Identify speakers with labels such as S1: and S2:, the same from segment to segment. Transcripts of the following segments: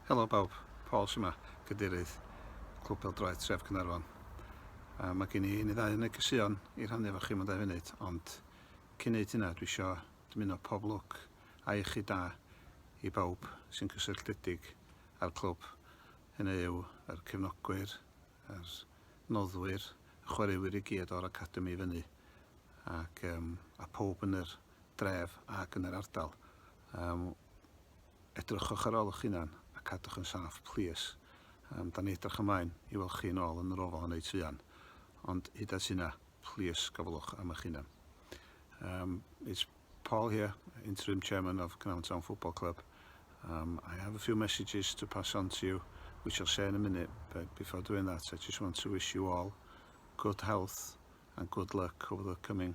S1: Helo bawb, Paul sy'n ma, cadeirydd Clwb Peldroed Tref Cynarfon. A mae gen i un i ddau yn y gysion i rhannu efo chi mewn dau funud, ond cyn neud hynna dwi isio dymuno pob lwc a iechyd da i bawb sy'n cysylltiedig â'r clwb. Hynny yw yr cefnogwyr, yr noddwyr, y chwaraewyr i gyd o'r academi i fyny ac um, a pob yn yr dref ac yn yr ardal. Yym, edrychwch ar ôl eich hunan a cadwch yn saff, plîs. Yym, da ni'n edrych ymlaen i weld chi yn ôl yn yr ofal yn eu tŷ an. Ond hyd at hynna, plîs gofalwch am eich hunan. Um, it's Paul here, interim chairman of Cnarfon Town Football Club. Um, I have a few messages to pass on to you, which I'll say in a minute, but before doing that, I just want to wish you all good health and good luck over the coming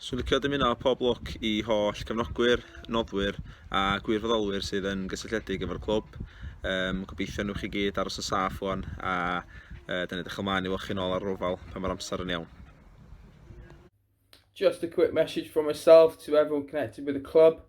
S2: Swn licio dymuno pob lwc i holl cefnogwyr, noddwyr a gwirfoddolwyr sydd yn gysylltiedig efo'r clwb. Um, gobeithio nhw'ch chi gyd aros yn saff o'n a uh, dyn ni ddechrau mlaen i weld chi'n ôl ar rofal pan mae'r amser yn iawn.
S3: Just a quick message from myself to everyone connected with the club.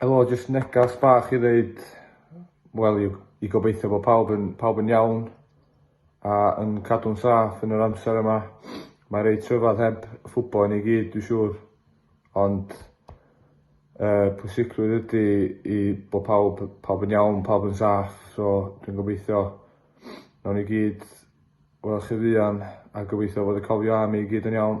S4: Helo jyst negas bach i ddeud wel i i gobeithio bo' pawb yn pawb yn iawn a yn cadw'n saff yn yr amser yma. Mae reit rhyfadd heb ffwbo i ni gyd dwi siŵr ond yy pwysigrwydd ydi i bo' pawb pawb yn iawn pawb yn saff so dwi'n gobeithio nawn ni gyd wel' chi fuan a gobeithio fod y cofion arni i gyd yn iawn.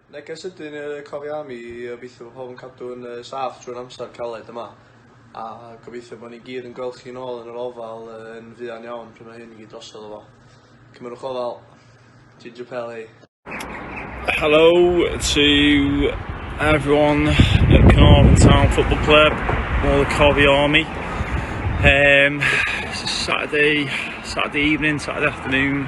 S5: Neges ydyn y cofia am i obeithio bo pawb yn cadw'n yy saff trwy'r amser caled yma a gobeithio bo ni gyd yn gweld chi nôl yn yr ofal yn fuan iawn pryd ma hyn i gyd drosodd efo. Cymerwch ofal. Ginger Pel hei. Hello
S6: to everyone at Carnarvon Town Football Club, all the Covey Army. Um, it's a Saturday, Saturday evening, Saturday afternoon.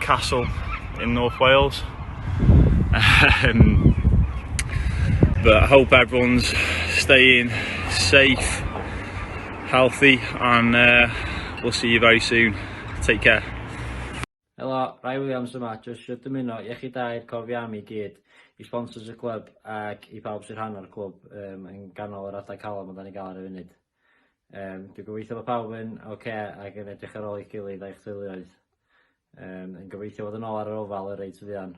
S6: castle in North Wales. Um, but I hope everyone's staying safe, healthy, and uh, we'll see you very soon. Take care. Helo,
S7: Rai Williams yma, jyst eisiau dymuno i chi dair cofi am i gyd, i sponsors y clwb ac i pawb sy'n rhan o'r clwb um, yn ganol yr adeg calon mae da ni gael ar y funud. Yym, dwi'n gobeithio bod pawb yn oce okay ac yn edrych ar ôl eich gilydd a'ch teuluoedd. Yym, yn gobeithio bod yn ôl ar yr ofal y reit fuan.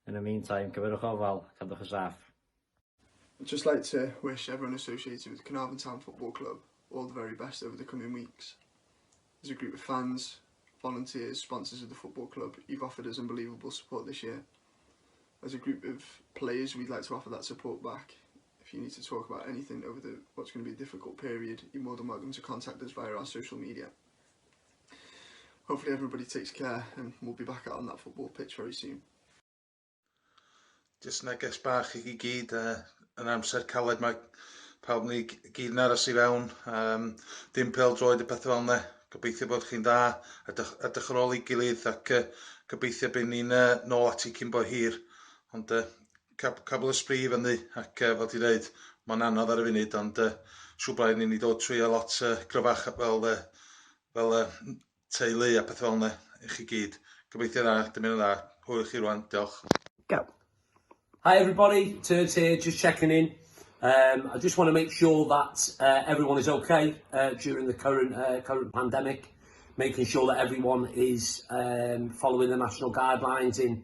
S7: Yn y meantime, cyfyrwch ofal, cadwch y saff. I'd
S5: just like to wish everyone associated with Carnarvon Town Football Club all the very best over the coming weeks. As a group of fans, volunteers, sponsors of the football club, you've offered us unbelievable support this year. As a group of players, we'd like to offer that support back If you need to talk about anything over the what's going to be a difficult period, you're more than welcome to contact us via our social media. Hopefully everybody takes care and we'll be back out on that football pitch very soon.
S8: Just neges bach i chi gyd, uh, yn amser caled mae pawb ni gyd yn aros i fewn, um, dim pel droed y pethau fel yna. Gobeithio bod chi'n dda, edrych, edrych ar ôl ei gilydd ac uh, gobeithio bod ni'n uh, nôl ati cyn bo hir. Ond uh, Cab- cabl y sbri i fyny ac yy fel ti'n dweud mae'n anodd ar y funud ond yy siŵr bod rhaid i ni dod trwyo lot yy gryfach fel yy fel yy teulu a pethau fel 'na i chi gyd. Gobeithio dda, dymuno dda. Hwyl i chi rŵan, diolch. Go.
S9: Hi everybody, Turds here, just checking in. Um, I just want to make sure that uh, everyone is okay uh, during the current uh, current pandemic, making sure that everyone is um, following the national guidelines in